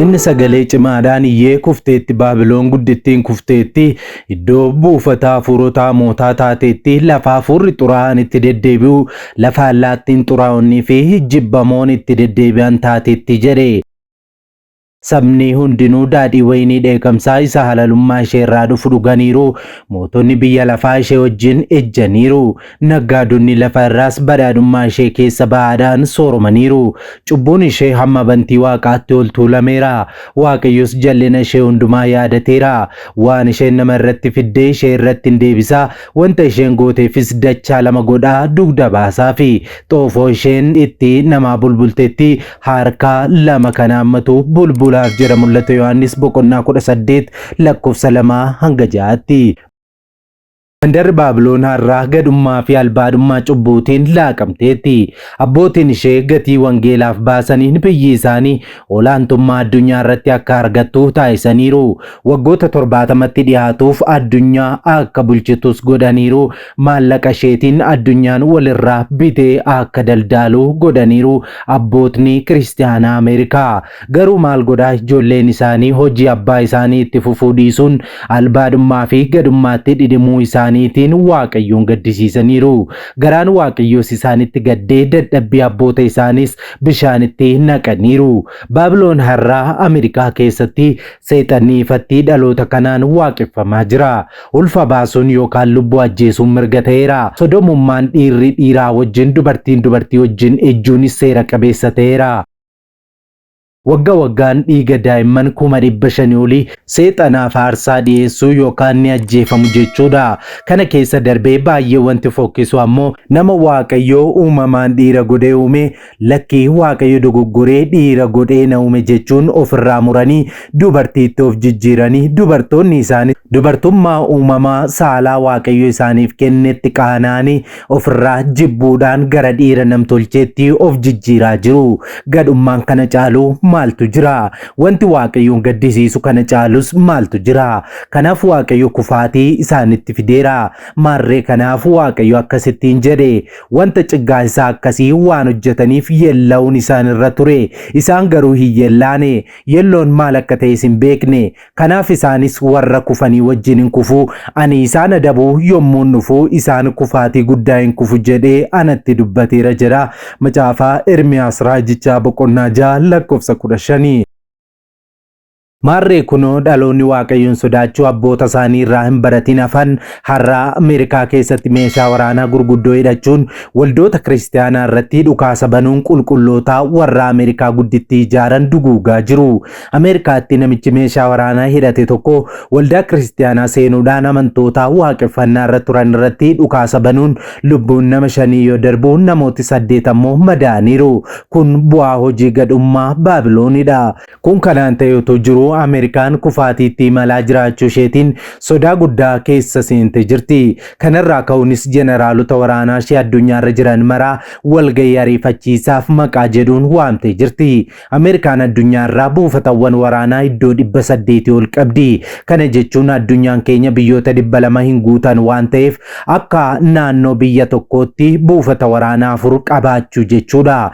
Inni sagalee cimaadhaan iyyee kufteetti Baabiloon guddittiin kufteetti iddoo buufata hafuurota hamootaa taateetti lafa hafuurri xuraa'aan itti deddeebi'u lafa allaattiin xuraa'onnii fi jibbamoon itti deddeebi'an taateetti jedhe. Sabni hundinuu daadhii wayinii dheekamsaa isa halalummaa ishee irraa dhufu dhuganiiru, mootonni biyya lafaa ishee wajjin ejjaniiru, naggaadonni lafa irraas badhaadhummaa ishee keessa ba'aadhaan sooromaniiru. Cubbuun ishee hamma bantii waaqaatti ol tuulameera, Waaqayyos jal'ina ishee hundumaa yaadateera. Waan isheen nama irratti fidde ishee irratti in deebisa, wanta isheen gooteefis dachaa lama godhaa dugda baasaafi. Xoofoo isheen itti namaa bulbultetti Harka lama kan haammatu bulbulaaf jedha mul'ata Yohaannis boqonnaa 18 lakkoofsa 2 hanga 6tti. Mandarri Baabiloon har'aa gadhummaa fi albaadhummaa cubbuutiin laaqamteetti. Abbootiin ishee gatii wangeelaaf baasaniin biyyi isaanii olaantummaa addunyaa irratti akka argattu taasisaniiru. Waggoota torbaatamatti dhiyaatuuf addunyaa akka bulchitus godhaniiru. Maallaqa isheetiin addunyaan walirraa bitee akka daldaalu godhaniiru abbootni Kiristiyaanaa Ameerikaa. Garuu maal godhaa ijoolleen isaanii hojii abbaa isaanii itti fufuu dhiisuun albaadhummaa fi gadummaatti dhidhimuu isaaniitiin Waaqayyoon gaddisiisaniiru. Garaan Waaqayyoos isaanitti gaddee dadhabbii abboota isaaniis bishaanitti naqaniiru. Baabiloon har'aa Ameerikaa keessatti Seexanni ifatti dhaloota kanaan waaqeffamaa jira. Ulfa baasuun yookaan lubbuu ajjeesuun mirga ta'eera. Sodomummaan dhiirri dhiiraa wajjin, dubartiin dubartii wajjin ejjuunis seera qabeessa ta'eera. Wagga waggaan dhiiga daa'imman kuma dhibba shanii olii seexanaaf aarsaa dhiyeessu yookaan ni ajjeefamu jechuudha. Kana keessa darbee baay'ee wanti fokkisu ammoo nama Waaqayyo uumamaan dhiira godhee uume Lakki Waaqayyo dogoggoree dhiira godhee na uume jechuun ofirraa muranii dubartiitti of jijjiiranii dubartoonni isaanis dubartummaa uumamaa saalaa Waaqayyo isaaniif kennetti qaana'anii ofirraa jibbuudhaan gara dhiira namtolcheetti of jijjiiraa jiru. Gadhummaan kana caalu maaltu jira? Wanti Waaqayyoon gaddisiisu kana caalus maaltu jira? Kanaaf Waaqayyo kufaatii isaanitti fideera. Maarree kanaaf Waaqayyo akkasittiin jedhe Wanta ciggaansaa akkasii waan hojjetaniif yeella'uun isaan irra ture. Isaan garuu hin yeellaane. Yeelloon maal akka ta'es hin beekne. Kanaaf isaanis warra kufanii wajjin in kufu. Ani isaan adabuu yommuun dhufu isaan kufaatii guddaa in kufu jedhee anatti dubbateera jedha. Macaafa Ermiyaas Raajichaa boqonnaa 6 lakkoofsa 15. Maarree kunoo dhaloonni Waaqayyoon sodaachuu abboota isaanii irraa hin baratiin hafan har'a Ameerikaa keessatti meeshaa waraanaa gurguddoo hidhachuun waldoota kiristiyaanaa irratti dhukaasa banuun qulqulloota warra Ameerikaa guddittii ijaaran duguugaa jiru. Ameerikaatti namichi meeshaa waraanaa hidhate tokko waldaa kiristiyaanaa seenuudhaan amantoota waaqeffannaa irra turan irratti dhukaasa banuun lubbuun nama shanii yoo darbu namooti saddeet ammoo madaa'aniiru. Kun bu'aa hojii gadhummaa Baabiloonidha. Kun kanaan ta'ee otoo jiruu Ameerikaan kufaatiitti imalaa jiraachuu isheetiin sodaa guddaa keessa seente jirti. Kanarraa ka'uunis jeneraalota waraanaa ishee addunyaarra jiran maraa walgahii ariifachiisaaf maqaa jedhuun waamtee jirti. Ameerikaan addunyaarraa buufatawwan waraanaa iddoo 800 ol qabdi. Kana jechuun addunyaan keenya biyyoota 200 hin guutan waan ta'eef akka naannoo biyya tokkootti buufata waraanaa afur qabaachuu jechuudha.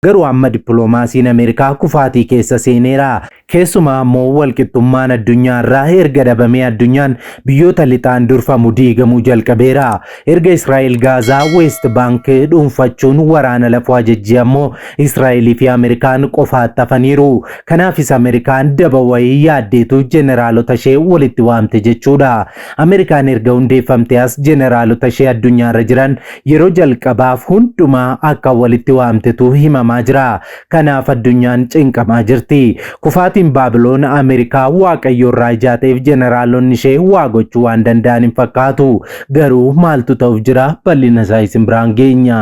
Garuu amma dippiloomaasiin Ameerikaa kufaatii keessa seeneera. Keessumaa ammoo walqixxummaan addunyaa irraa erga dhabamee addunyaan biyyoota lixaan durfamu diigamuu jalqabeera. Erga Israa'el Gaazaa, Weest Baank dhuunfachuun waraana lafoo ajajjee ammoo Israa'elii fi Ameerikaan qofaatti hafaniiru. Kanaafis Ameerikaan daba wayii yaaddeetu jeneraalota ishee walitti waamte jechuudha. Ameerikaan erga hundeeffamtee as jeneraalota ishee addunyaarra jiran Yeroo jalqabaaf hundumaa akka walitti waamtetu himamaa jira. Kanaaf addunyaan cinqamaa jirti. Kufaatiin Baabiloon Ameerikaa Waaqayyo irraa ijaateef jeneraalonni ishee waa gochuu waan danda'an hin fakkaatu. Garuu maaltu ta'uuf jira bal'ina isaa isin biraan geenya.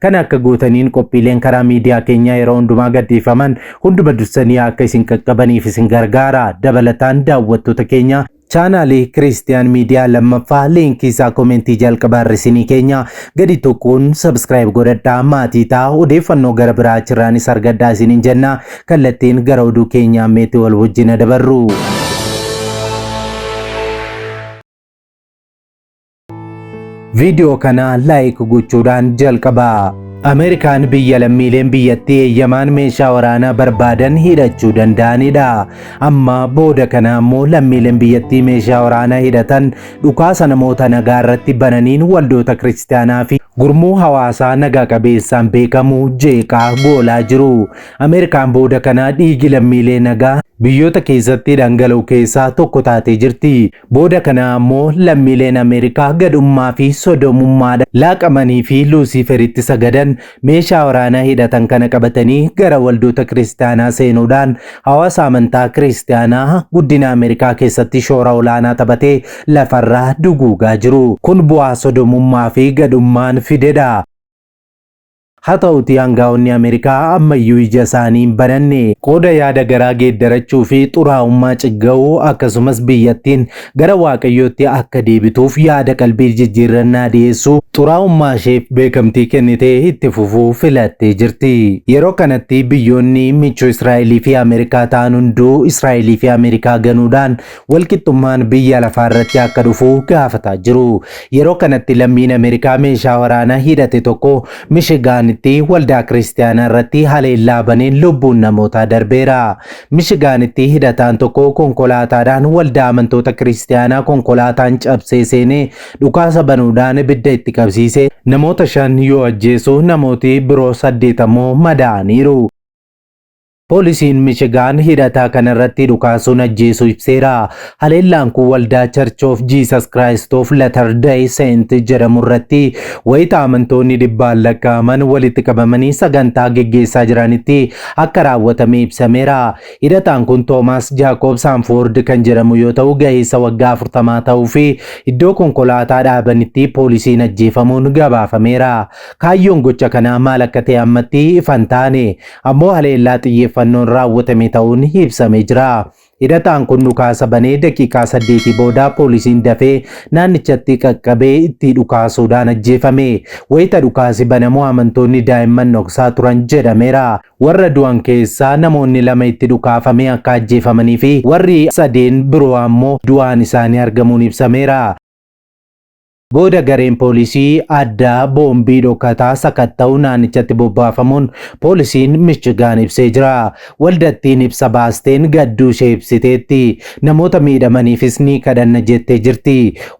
Kana akka gootaniin qophiileen karaa miidiyaa keenyaa yeroo hundumaa gadhiifaman hunduma dursanii akka isin qaqqabaniif isin gargaara. Dabalataan daawwattoota keenya chaanaalii Kiriistiyaan Miidiyaa lammaffaa liinkii isaa komentii jalqabaa irra isinii keenya gadi tuquun sabskiraayib godhadhaa maatii ta'a odeeffannoo gara biraa achirraanis argadhaa isiniin jenna kallattiin gara oduu keenyaa meetii wal wajjina dabarru. Viidiyoo kana laayik gochuudhaan jalqabaa. Ameerikaan biyya lammiileen biyyattii eeyyamaan meeshaa waraanaa barbaadan hidhachuu danda'anidha. Amma booda kana ammoo lammiileen biyyattii meeshaa waraanaa hidhatan dhukaasa namoota nagaa irratti bananiin waldoota kiristaanaa fi gurmuu hawaasaa nagaa qabeessaan beekamu jeeqaa goolaa jiru. Ameerikaan booda kana dhiigi lammiilee nagaa biyyoota keessatti dhangala'u keessaa tokko taatee jirti. Booda kanaa ammoo lammiileen Ameerikaa gadhummaa fi sodoomummaadhaan laaqamanii fi Luusiiferitti sagadan meeshaa waraanaa hidhatan kana qabatanii gara waldoota Kiristiyaanaa seenuudhaan hawaasa amantaa Kiristiyaanaa guddina Ameerikaa keessatti shoora olaanaa taphate lafarraa duguugaa jiru. Kun bu'aa sodoomummaa fi gadhummaan fidedha. Haa ta'uutii aangaa'onni Ameerikaa ammayyuu ija isaanii hin bananne. Qooda yaada garaa geeddarachuu fi xuraa'ummaa cigga'uu, akkasumas biyyattiin gara Waaqayyootti akka deebituuf yaada qalbii jijjiirrannaa dhiyeessu, xuraa'ummaa isheef beekamtii kennitee itti fufuu filattee jirti. Yeroo kanatti biyyoonni michuu Israa'elii fi Ameerikaa ta'an hunduu Israa'elii fi Ameerikaa ganuudhaan walqixxummaan biyya lafaa irratti akka dhufu gaafataa jiru. Yeroo kanatti lammiin Ameerikaa meeshaa waraanaa hidhate tokko Mishigaanitti waldaa kiristaanaa irratti haleellaa baneen lubbuun namootaa darbeera. Mishigaanitti hidhataan tokko konkolaataadhaan waldaa amantoota kiristaanaa konkolaataan cabsee seenee dhukaasa banuudhaan ibidda itti qabsiise namoota shan yoo ajjeesu namooti biroo saddeet ammoo madaa'aniiru. Poolisiin Michigaan hidhataa kana irratti dhukaasuun ajjeesuu ibseera. Haleellaan kun waldaa Church of Jesus Christ of Latter-day Saint jedhamu irratti wayita amantoonni dhibbaan lakkaa'aman walitti qabamanii sagantaa geggeessaa jiranitti akka raawwatame ibsameera. Hidhataan kun Toomaas Jaakoob Saanfoord kan jedhamu yoo ta'u ga'eessa waggaa 40 ta'uu fi iddoo konkolaataa dhaabanitti poolisiin ajjeefamuun gabaafameera. Kaayyoon gocha kanaa maal akka ta'e ammatti ifa hin taane. ammoo haleellaa xiyyeeffannoon raawwatame ta'uun ibsamee jira. Hidhataan kun dhukaasa banee daqiiqaa saddeetii booda poolisiin dafee naannichatti qaqqabee itti dhukaasuudhaan ajjeefame. Wayita dhukaasi banamu amantoonni daa'imman dhoksaa turan jedhameera. Warra du'an keessaa namoonni lama itti dhukaafamee akka ajjeefamanii fi warri sadeen biroo ammoo du'aan isaanii argamuun ibsameera. Booda gareen poolisii addaa boombii dhokataa sakatta'u naannichatti bobbaafamuun poolisiin Michigaan ibsee jira. Waldattiin ibsa baasteen gadduu ishee ibsiteetti. Namoota miidhamaniifis ni kadhanna jettee jirti.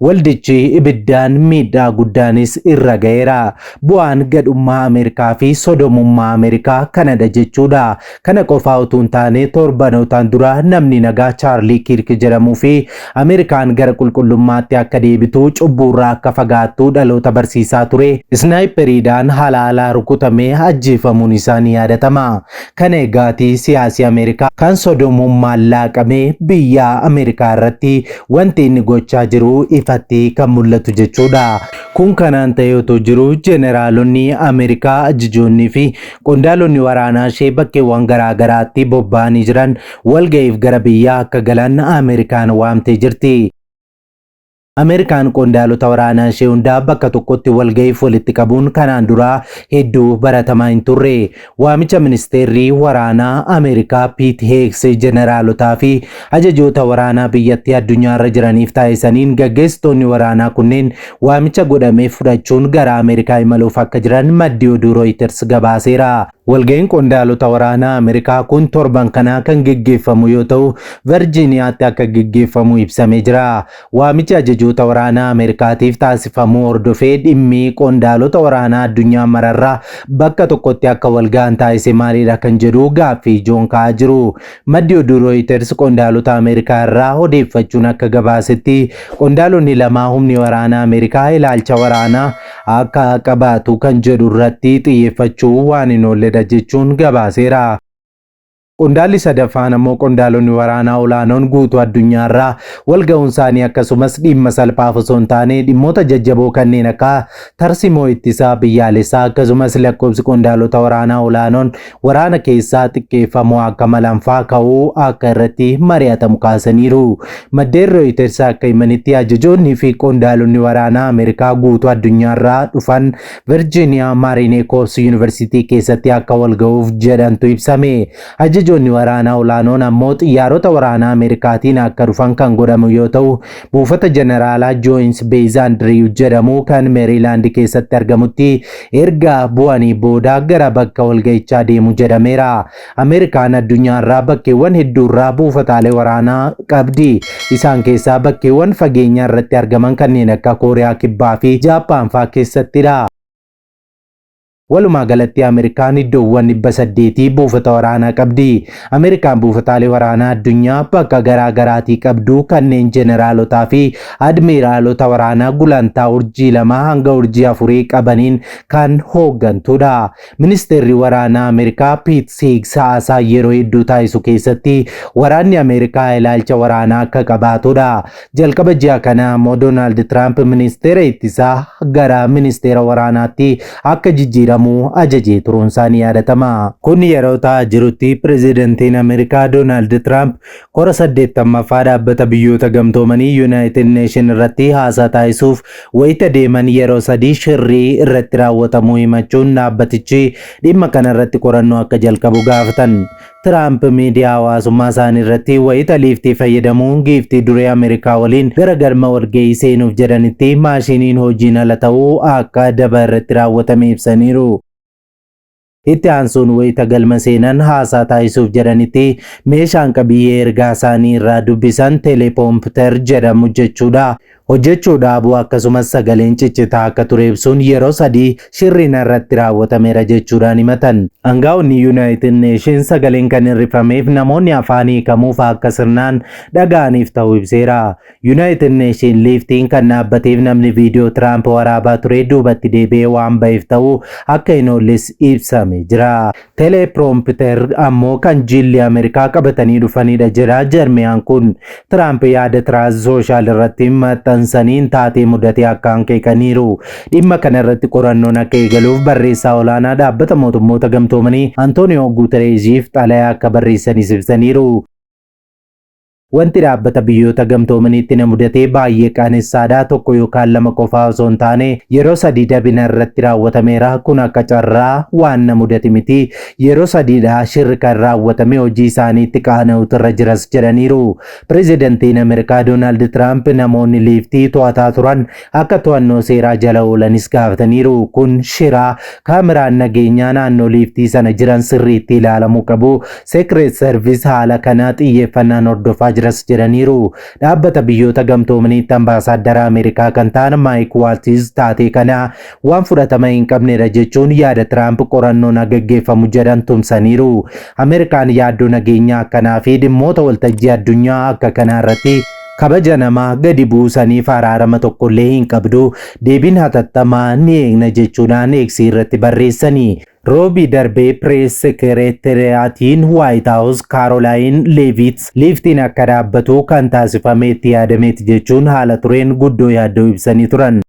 Waldichi ibiddaan miidhaa guddaanis irra ga'eera. Bu'aan gadhummaa Ameerikaa fi sodomummaa Ameerikaa kanadha jechuudha. Kana qofaa utuu hin taane torbanootaan dura namni nagaa Chaarlii Kiirk jedhamuu fi Ameerikaan gara qulqullummaatti akka deebitu, cubbuurraa akka fagaattu dhaloota barsiisaa ture, isnaayipperiidhaan haala haalaa rukutamee ajjeefamuun isaa ni yaadatama. Kana egaati siyaasi Ameerikaa kan sodomummaan laaqamee biyya Ameerikaa irratti wanti inni gochaa jiru ifatti kan mul'atu jechuudha. Kun kanaan ta'ee otoo jiruu jeneraalonni Ameerikaa, ajajoonnii fi Qondaalonni waraanaa ishee bakkeewwan garaa garaatti bobba'anii jiran walga'iif gara biyyaa akka galan Ameerikaan waamtee jirti. Ameerikaan qondaalota waraanaa ishee hundaa bakka tokkotti walga'iif walitti qabuun kanaan duraa hedduu baratamaa hin turre. Waamicha ministeerri waraanaa Ameerikaa Piit Heeks jeneraalotaa fi Ajajoota waraanaa biyyattii addunyaa irra jiraniif taasisaniin gaggeessitoonni waraanaa kunneen waamicha godhameef fudhachuun gara Ameerikaa imaluuf akka jiran maddi oduu Rooyiters gabaaseera. Walga'iin qondaalota waraanaa Ameerikaa kun torban kanaa kan geggeeffamu yoo ta'u, Verjiiniyaatti akka geggeeffamu ibsamee jira. Waamichi ajajoota waraanaa Ameerikaatiif taasifamuu hordofee dhimmi qondaalota waraanaa addunyaa mararraa bakka tokkotti akka walga'an taasise maalidha kan jedhu gaaffii ijoon ka'aa jiru. Maddi oduu Rooyiters qondaalota Ameerikaa irraa odeeffachuun akka gabaasetti qondaalonni lamaa humni waraanaa Ameerikaa ilaalcha waraanaa akka qabaatu kan jedhu irratti xiyyeeffachuu waan hin oolledha jechuun gabaaseera. Qondaalli sadaffaan ammoo qondaalonni waraanaa olaanoon guutuu addunyaarraa walga'uun isaanii akkasumas dhimma salphaaf osoo hin taane dhimmoota jajjaboo kanneen akka tarsimoo ittisaa biyyaalessaa akkasumas lakkoobsi qondaalota waraanaa olaanoon waraana keessaa xiqqeeffamuu akka malanfaa ka'uu akka irratti mari'atamu kaasaniiru. Maddeen Rooyiters akka himanitti ajajoonnii fi qondaalonni waraanaa Ameerikaa guutuu addunyaarraa dhufan Virgiiniyaa Maariinee Koors Yuunivarsiitii keessatti akka walga'uuf jedhantu ibsame. Ajajoonni waraanaa olaanoon ammoo xiyyaarota waraanaa Ameerikaatiin akka dhufan kan godhamu yoo ta'u, buufata jeneraalaa Jooyins Beez Andiriiw jedhamu kan Meeriilaand keessatti argamutti erga bu'anii booda gara bakka walga'ichaa deemu jedhameera. Ameerikaan addunyaarraa bakkeewwan hedduurraa buufataalee waraanaa qabdi. Isaan keessaa bakkeewwan fageenya irratti argaman kanneen akka Kooriyaa Kibbaa fi Jaappaan fa'aa keessattidha. Walumaa galatti Ameerikaan iddoowwan 800 buufata waraanaa qabdi. Ameerikaan buufataalee waraanaa addunyaa bakka garaa garaatii qabdu kanneen jeneraalotaa fi admiiraalota waraanaa gulantaa urjii lama hanga urjii afurii qabaniin kan hooggantudha. Ministeerri waraanaa Ameerikaa Piit Siigs haasaa yeroo hedduu taasisu keessatti waraanni Ameerikaa ilaalcha waraanaa akka qabaatudha. Jalqaba ji'a kanaa ammoo Doonaald Tiraamp ministeera ittisaa gara ministeera waraanaatti akka jijjiiramu ajajee turuunsaa ni yaadatama. Kun yeroo ta'aa jirutti pirezidantiin Ameerikaa Doonaald Tiraamp kora 80ffaa dhaabbata biyyoota gamtoomanii Yuunaayitid Neeshin irratti haasaa taasisuuf wayita deeman yeroo sadii shirrii irratti raawwatamuu himachuun dhaabbatichi dhimma kanarratti qorannoo akka jalqabu gaafatan. Tiraamp miidiyaa hawaasummaa isaanii irratti wayita liiftii fayyadamuun giiftii duree Ameerikaa waliin gara galma walga'ii seenuuf jedhanitti maashiiniin hojiin ala ta'uu akka daba irratti raawwatame ibsaniiru. Itti aansuun wayita galma seenan haasaa taasisuuf jedhanitti meeshaan qabiyyee ergaa isaanii irraa dubbisan telepompter jedhamu jechuudha. Hojjechuu dhaabuu akkasumas sagaleen ciccitaa akka ture ibsuun yeroo sadii shirri narratti raawwatameera jechuudhaan himatan. Angaa'onni Yunaayitid Neeshiins sagaleen kan hir'ifameef namoonni afaan hiikamuuf akka sirnaan dhaga'aniif ta'uu ibseera. Yunaayitid Neeshiin liiftiin kan dhaabbateef namni viidiyoo Tiraamp waraabaa ture duubatti deebi'ee waan ba'eef ta'uu akka hin oolles ibsame jira. Teleeproompiter ammoo kan jiilli Ameerikaa qabatanii dhufanidha jedha jarmiyaan kun. Tiraamp yaada Tiraaz sooshaal irratti maxxansaniin taatee mudatee akka hanqeeqaniiru. Dhimma kana irratti qorannoon akka eegaluuf barreessaa olaanaa dhaabbata mootummoota gamtoomanii Antooniyoo Guutereeziif xalayaa akka barreessanis ibsaniiru. Wanti Dhaabbata Biyyoota Gamtoomaniitti na mudate baay'ee qaanessaadha, tokko yookaan lama qofaa osoo hin taane yeroo sadii dabi narratti raawwatameera, kun akka carraa waan na mudate miti, yeroo sadiidha shirri kan raawwatame hojii isaaniitti qaana'uutu irra jiras jedhaniiru. Pirezidantiin Ameerikaa Doonaald Tiraamp namoonni Liiftii to'ataa turan akka to'annoo seeraa jala oolanis gaafataniiru. Kun shira kaameraan nageenyaa naannoo liiftii sana jiran sirriitti ilaalamuu qabu. Seekreet Sarvis haala kana xiyyeeffannaan hordofaa jiras jedhaniiru. Dhaabbata biyyoota gamtoomaniitti ambaasaaddara Ameerikaa kan ta'an Maayik Waaltiz taatee kana waan fudhatama hin qabnedha jechuun yaada Tiraamp qorannoon haa gaggeeffamu jedhan tumsaniiru. Ameerikaan yaaddoo nageenyaa akkanaa fi dhimmoota waltajjii addunyaa akka kanaa irratti Kabaja namaa gadi buusaniif araarama tokkollee hin qabdu, deebiin hatattamaa ni eegna jechuudhaan X irratti barreessani. Roobii darbe Pirees Sekereeteriyaatiin Waayit Haawus Kaarolaayin Leeviits liiftiin akka dhaabbatu kan taasifame itti yaadameeti jechuun haala tureen guddoo yaaddoo ibsanii turan.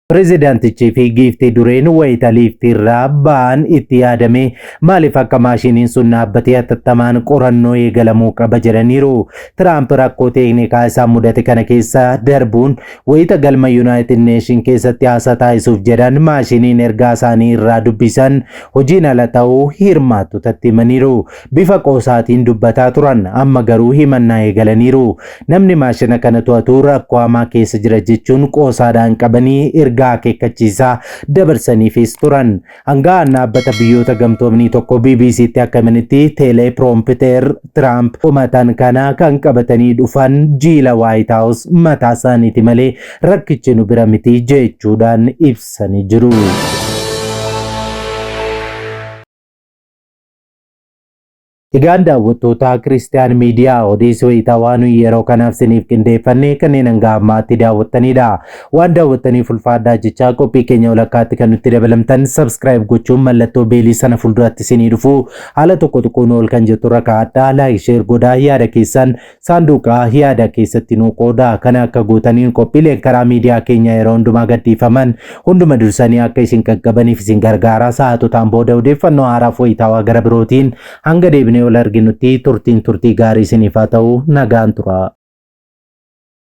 Pirezidaantichii fi giiftii dureen wayita liiftii irraa ba'an itti yaadamee maaliif akka maashiniin sun dhaabbatee hatattamaan qorannoo eegalamuu qaba jedhaniiru. Tiraamp rakkoo teeknikaa isaan mudate kana keessa darbuun wayita galma Yuunaayitid Neeshin keessatti haasaa taasisuuf jedhan maashiniin ergaa isaanii irraa dubbisan hojiin ala ta'uu hirmaattotatti himaniiru. Bifa qoosaatiin dubbataa turan. Amma garuu himannaa eegalaniiru. Namni maashina kana to'atu rakkoo hamaa keessa jira jechuun qoosaadhaan qabanii ergaa akeekkachiisaa dabarsaniifiis turan. Aanga'aan Dhaabbata Biyyoota Gamtoomnii tokko BBC'tti akka himanitti, teelee piroompiteer Tiraamp komatan kana kan qabatanii dhufan jiila Waayit Haawus mataa isaaniiti malee rakkichi nu bira miti jechuudhaan ibsanii jiru. Egaan daawwattootaa Kiristiyaan Miidiyaa odeessi wayitaa waan nuyi yeroo kanaaf siniif qindeeffanne kanneen hanga ammaatti daawwattanidha. Waan daawwattaniif ulfaadhaa jechaa qophii keenya walakkaatti kan nutti dabalamtan subscribe gochuun mallattoo beelii sana fuulduratti sinii dhufu haala tokko tuquun ol kan jetturra kaa'adhaa like share godhaa yaada keessan Saanduuqa yaada keessatti nuu qoodaa kana akka gootaniin qophiileen karaa miidiyaa keenya yeroo hundumaa gadhiifaman hunduma dursanii akka isin qaqqabaniif isin gargaara sa'aatotaan booda odeeffannoo haaraaf wayitaawaa gara birootiin hanga deebinee wal arginutti turtiin turtii gaarii isiniif haa ta'u nagaan tura.